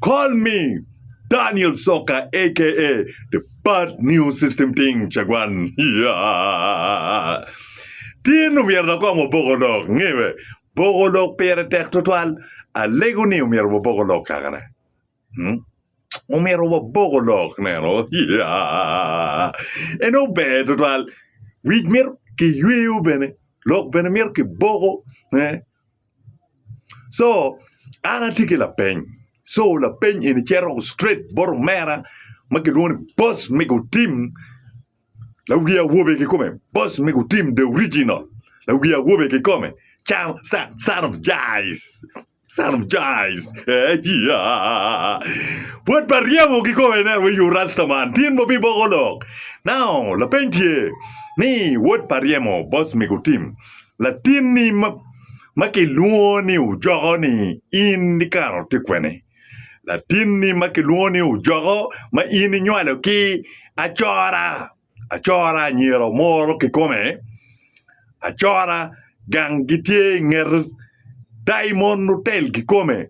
Call me Daniel Soka aka the bad new system ting cagwan. Tin omyero lakom oboko lok ngiwe. Boko lok pire tek tutwal. Alego ni omyero waboko lok kakane. Hmm? Omyero waboko lok neno. Eno ber tutwal. Wic myero kiyweyo bene. Lok bene myero kiboko. Eh? So an atye ki lapeny, so lapeny eni cito straight bot omera ma kilwongo ni boss me gutim lawi awobe kikome, boss me gutim the original lawi awobe kikome can can son of Jais son of Jais eeiya bwod pa ryemo kikome ineno wai you rasta man tin bobbi boko lok now lapeny tye ni wod pa ryemo boss me gutim latinni ma ma kilwongo ni ojoko ni in ikaro tye kwene? Latinni ma kilwongo ni ojoko ma in inywalo ki acora, acora anyira omoro kikome, acora gang gitye ingeto, daimon otel kikome.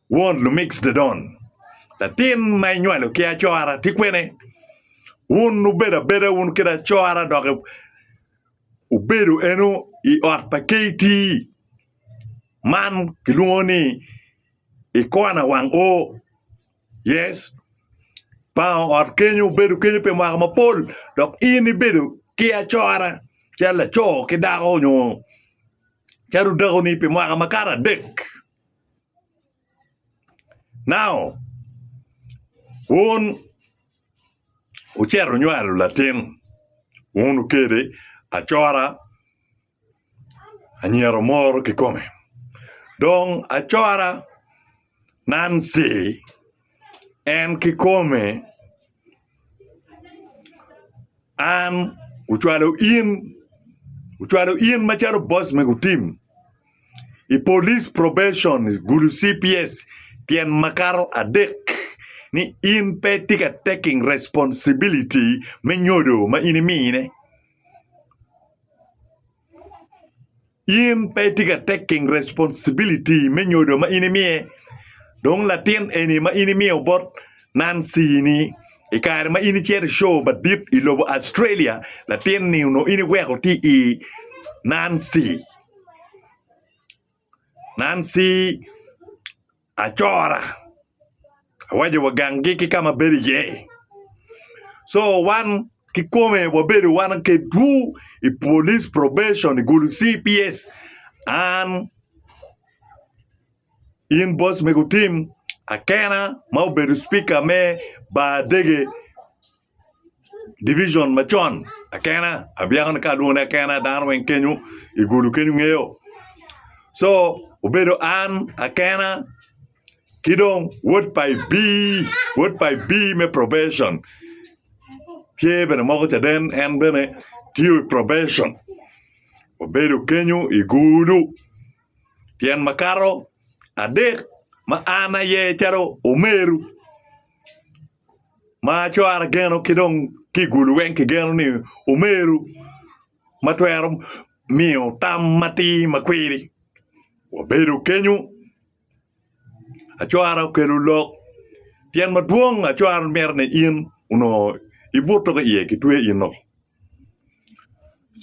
Won Lumix Dedon, latin ma inywalo ki acora ti kwene? Wun wubedo abeda wun kit acora dok wubedo eno i ot pa KT man kilwongo ni i kona wang O. Yes, pa ot kenyo wubedo kenyo pi mwaka mapol dok in ibedo ki acora calo laco ki dako nyo calo dakoni pi mwaka makato adek. Nao wun wucito wunywalo latin, wun wukele acora, anyira omoro kikome. Dong acora, Nancy, en kikome, An ocwalo in, ocwalo in macalo boss me gutim i police probation gulu cps tyen makato adek ni in pe itye ka taking responsibility me nyodo ma in imine. in pe itye ka taking responsibility me nyodo ma in imiye dong latin eni ma in imiyo bot Nancy ni i kare ma in icito i cow madit i lobo Australia latin ni onongo in iweko tye i Nancy. Nancy Acora awaco wa gangi ki kama abedo iye so wan kikome wabedo wan kedwu i police probation i gulu cps an in boss mego Tim akena ma obedo speaker me bar dege Division macon akena abyeko ni ka alwongo ni akena dano weng kenyo i gulu kenyo ngeyo so obedo an akena ki dong wod pa Ibii wod pa Ibii me probation tye bene moko caden en bene tye i probation obedo kenyo i gulu tyen makato adek ma an aye calo omeru. ma cwara geno ki dong ki i gulu weng kigeno ni omeru ma twero miyo tam matir ma kwiri wabedo kenyo acwara okelo lok tyen madwong acwara myero ni in onongo ibuto ki iye kitwe ino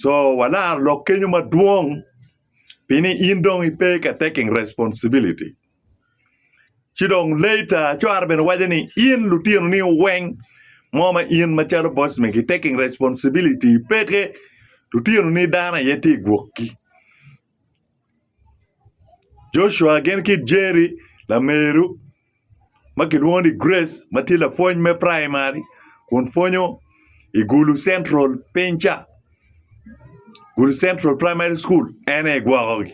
co walaro lok kenyo madwong pi ni in dong ipe ka taking responsibility Ci dong later cware bene waco ni in lutino ni weng mo ma in ma calo boss me ki taking responsibility peke lutino ni dano aye tye igwokgi. Joshua gin ki Jerry lameru ma kilwongo ni Grace ma tye lapwony me primary kun pwonyo i Gulu Central piny ca Gulu Central primary school en aye gwokogi.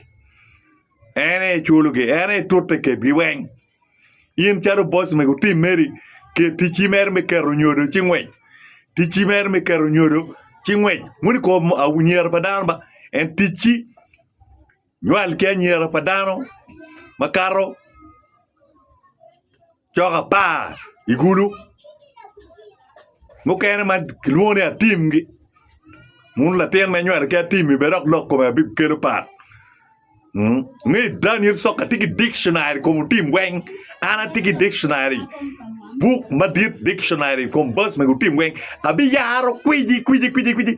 En aye culogi, en aye tute i ketgi weng. In calo boss mego tim meri, ket ticci mere me keto nyodo ci ngwec. Ticci mere me keto nyodo ci ngwec. Wun i kom ah, anyira pa dano ba, en ticci nywal ki anyira pa dano makato Cok apar i gulu, mukene ma kilwongo ni atimgi. Wun latin ma inywalo ki atimmi bene dok lok kome abib kelo pat. Mm. Ni Daniel Soka tye ki dictionary kom otim weng. An atye ki dictionary. Buk madit dictionary kom bas mego otim weng. Abiyaro kwiji kwiji kwiji kwiji.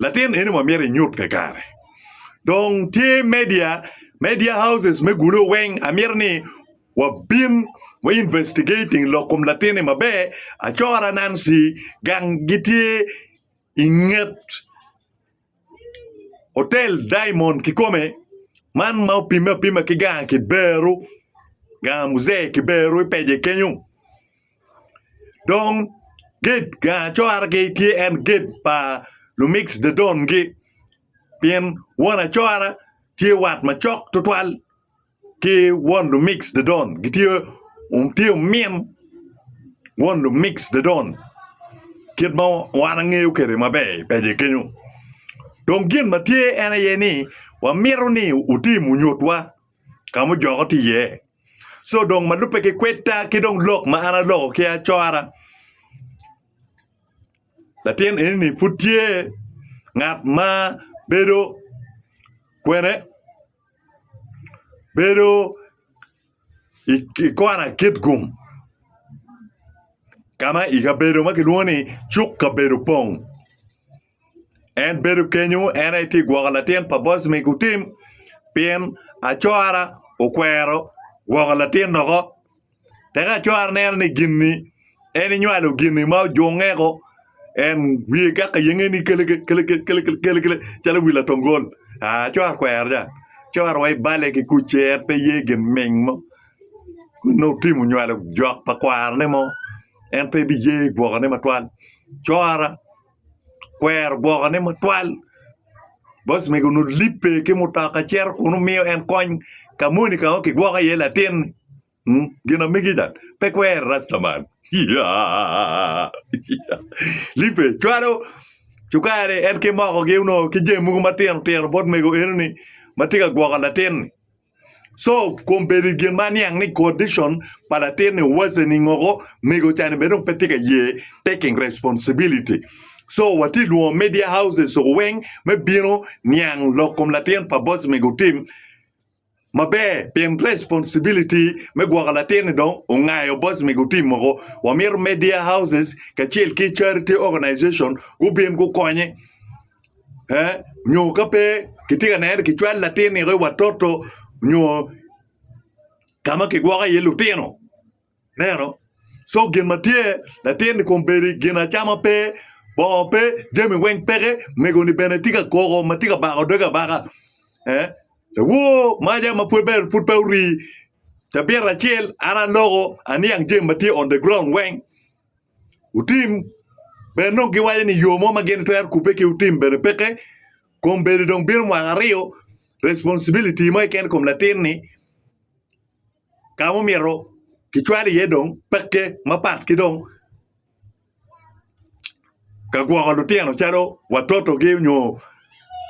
Latin eni wa myero inyut kakare. Dong tye media, media houses me gulo weng amyero ni wa bin wa investigating lok kom latin ni maber acora Nancy gang gi tye inget otel diamond kikome man ma opime apima ki gang kiberu gang muzee kiberu i pece kenyo. Dong gate gang acoragi tye en gate pa lumig cdedon-gi pien won acora tye wat macok tutwal ki won lumig cdedon gitye tye omin won lumig cdedon kit ma wan angeyo kwede maber i peci kenyo dong gin ma tye en aye ni wamito ni wutim wunyutwa. ka mujoko tye iye. Co dong ma lubbe ki kwedda ki dong lok ma an aloko ki acora, latin eni-ni pud tye ngat ma bedo kwene, bedo i kona Kitgum ka ma i kabedo ma kilwongo ni cuk kabedo pong. En bedo kenyo en aye tye gwoko latin pa boss me gutim pien acora okwero gwoko latin woko tek acora neno ni gini en inywalo gini ma ojunge woko en wiye gak ayengo ni keleke keleke keleke calo wi latongol acora okwero ca acora wa ibale ki kuc-ci en pe ye gin ming mo nongo otimo onywalo jok pa kwarone mo en pe biye gwokone matwal cora kwero gwokone matwal boc mego onongo libbe ki mutoka cito kun omiyo en kony ka moni ka ma kigwoko iye latin-ni gin ma mege ca pe kwero rastaman libbe cwalo cukari en ki mokogi onongo ki jami mogo matino tino bot mego enoni ma tye ka gwoko latin-ni. So kong bedo i gin ma aniang ni condition pa latinni worsening ngoko, mego ca ni bene dong pe tye ka ye taking responsibility. So watye lwongo media houses o weng me bino niang lok kom latin pa boss mego tim maber pien responsibility me gwoko latinni dong ongayo boss mego tim moko. Wamito media houses kacel ki charity organization gubin gukonye. nyo ka pe kitye ka neno ni kicwalo latin nino i watoto nyo ka ma kigwoko iye lutino ineno co gin ma tye latin-ni kong obedo i gin acama pe bongo pe jami weng peke omego-ni bene tye ka koko ma tye ka bako doge abaka awoo maca ma pud bene pud pe orii cabita acel an aloko aniang jami ma tye on the ground weng. Otim. Bene dong giwaco ni yo mo ma gin twero kubbe ki otim bene peke. Kom bedo dong bino mwaka aryo, responsibility mo keken kom latin ni ka ma omyero kicwal iye dong peke mapat ki dong. ka gwoko lutino calo watotogi nyo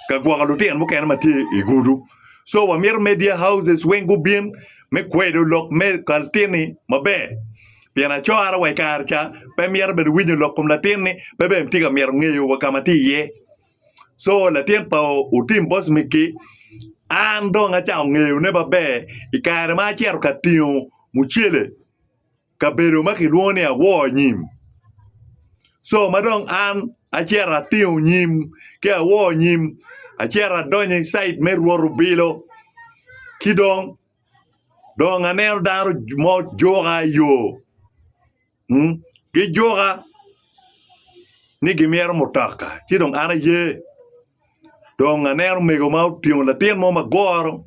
ka gwoko lutino mukene ma tye i gudu. So wamito media houses weng gubin me kwedo lok me kaltinni maber pien acora wa i kare ca pe mito bene winyo lok kom latinni, pe bene tye ka mito ngeyo wa ka ma tye iye. So latin pa Otim Bosmik-ki, an dong acako ngeyone maber i kare ma acito ka tingo mucele. kabedo ma kilwongo ni awor nyim. Co ma dong an acito atingo nyim ki awor nyim, acito adonyo i cait me rwot obilo ci dong dong aneno dano mo juka i yo. Gijuka ni gimyero mutoka ci dong an aye dong aneno mego ma otingo latin mo magoro.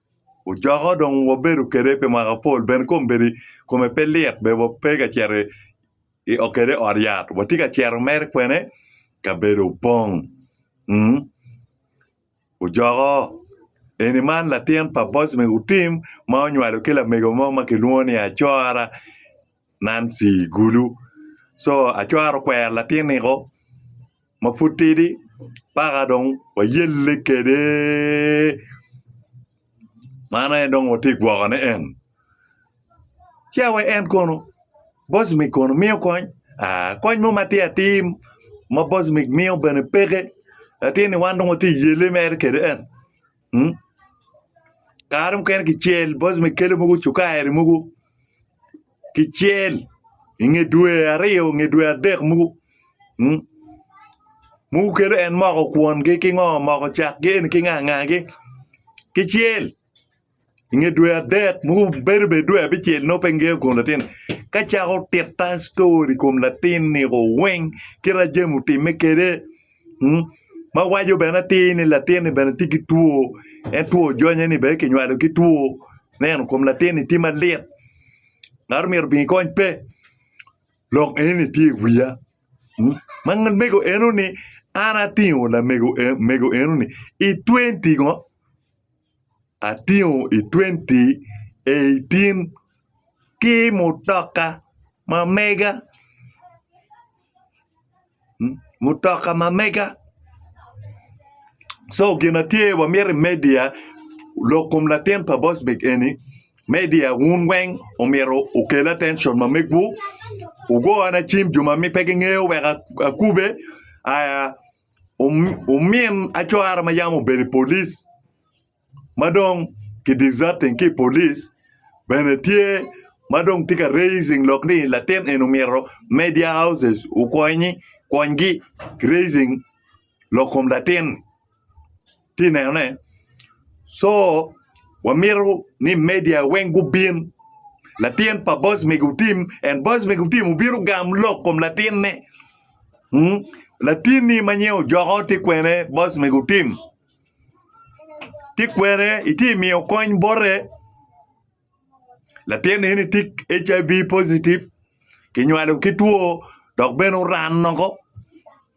Ocoka dong wabedo kwede pi mwaka mapol bene kome pe lit bene wape ka cito kwede i ot yat watye ka cito mere kwene kabedo opong ocoko eni man latin pa Bosnick Otim ma onywalo ki lamego mo ma kilwongo ni Acora Nancy Gulu. So acwaro kwero latiniko ma pud tidi paka dong wayelle kwede. Man aye dong watye gwokone en. Ci awe en kono Bosmic kono miyo kony? Aa, kony mo matir atir ma Bosmic miyo bene peke. Latinni wan dong watye yelle mere kwede en. kare mukene kicel boc ma kelo mogo cukari mogo kicel i nge dwe aryo nge dwe adek mogo mogo kelo en moko kwon gi ki ngo moko cak gi eni ki nga nga gi kicel i nge dwe adek mogo bedo bed dwe abicel nongo pe ngiyo kom latin ka cako tita ctori i kom latin ni o weng kit ma jami otimme kede ma waco bene atir ni latinni bene tye ki two en two ojonye ni bene kinywalo ki two neno kom latinni tye malit ngat omyero obin ikony pe lok enoni tye i wiya ma mego enoni an atingo lamego enoni i twenty ngo atingo i twenty eighteen ki mutoka ma mega mutoka ma mega so gin ma tye wa miti i media lok kom latin pa bosbik eni media wun weng omyero okel atencon ma megwu wugona cim jo ma pe gingeyo wek akube aya omin acwara ma yam obedo i polic ma dong ki deserting ki i polic bene tye ma dong tye ka raising lok ni latin eni omyero media houses okonye okonygi ki raising lok kom latin-ni. tye nenone co wamito ni media weng gubin latin pa boss me gutim en boss me gutim obino gam lok kom latin ne latin ni ma nyen ojoko ti kwene boss me gutim ti kwene iti miyo kony bote latin eni ti HIV positive ki nywalo ki two dok bene oran noko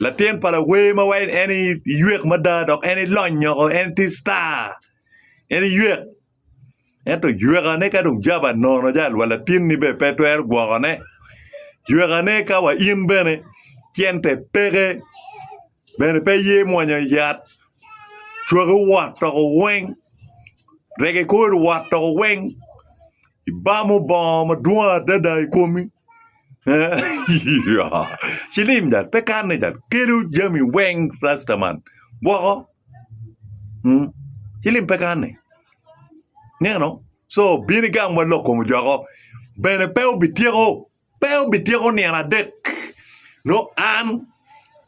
Latin pa lawer ma wai en iywek mada dok en ilony nyoko en tye star en iywek ento ywekane ka dong jaba nono jalo wa latinni bene pe twero gwokone ywekane ka wa in bene cente peke bene pe ye mwonyo yat cwaki owot toko weng rege kori owot toko weng Ibamo bongo madwong adada i komi. Cilim jad pe kanne jad kelo jami weng rasta man woko. Cilim pe kanne. Ineno? So bino igamwa lok kom ojoko. Bene pe obityeko. Pe obityeko nino adek, nongo an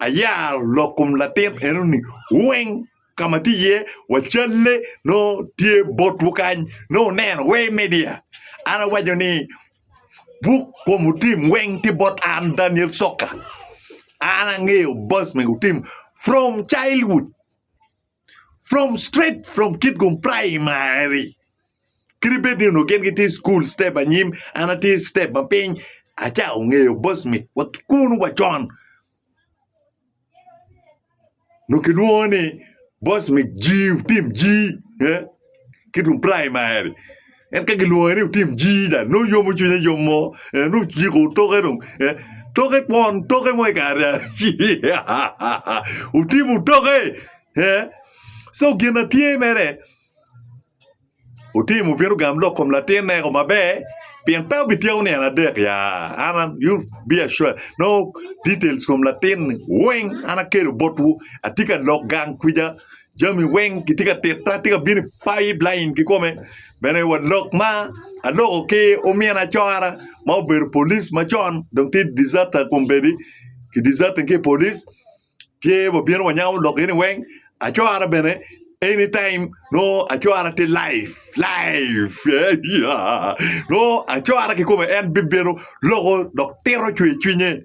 ayaro lok kom latin enoni weng. Ka ma atye iye, wacalle nongo tye botwu kany, nongo wuneno Way Media. An awaco ni, Buk kom otim weng tye bot an, Daniel Soka. An angeyo boss mego otim from childhood. From straight from Kitgum Primary. Kadi bed ni onongo gin gitye school step anyim, an atye step ma piny. Aca ongeyo boss me wa kun wa con. Onongo kilwongo ni boss me G, tim G. Eh? ki tung praimari en ka gilwonge ni otim jii dong nongo yomo cwinye yom mo eh, nongo ciko toke dong eh, toke kwon toke mo i kare otimo toke eh. so gin na tye mere otimo bino gam lok kom latinne ko maber pien pe obityeko nian adek ya an an- you be assured no details kom latin weng an akelo botwu atye ka lok gang kwija Jami weng gitye ka tita, tye ka bino i pipeline kikome. Bene wa lok ma aloko ki omin acora ma obedo police macon dong tye deserter kombeddi ki deserting ki i police tye wabino wanyamo lok eni weng. Acora bene anytime nongo acora tye live live yeah nongo acora kikome en bibino loko dok tito cwercwinye.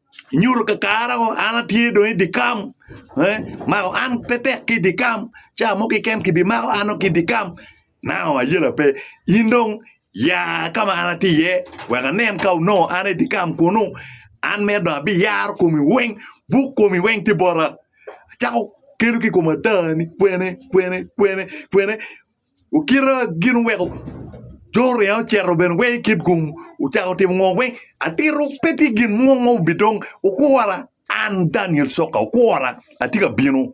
nyuto kakare o an atye dong i dye kam ee mako an pe tek ki i dye kam cawa mo keken ki bi mako an dong ki i dye kam nao ayela pe in dong ya ka ma an atye iye wek anen ka onongo an aye i dye kam kunu an mito dong abiyaro komi weng buk komi weng tye bota acako kelo ki i kom ada ni kwene kwene kwene kwene. Okita gin oweko jo oriya ocito bene weng i kit gung ocako timo ngo weng atito pe tye gin mo ma obidong okura an Daniel coka okura atye ka bino.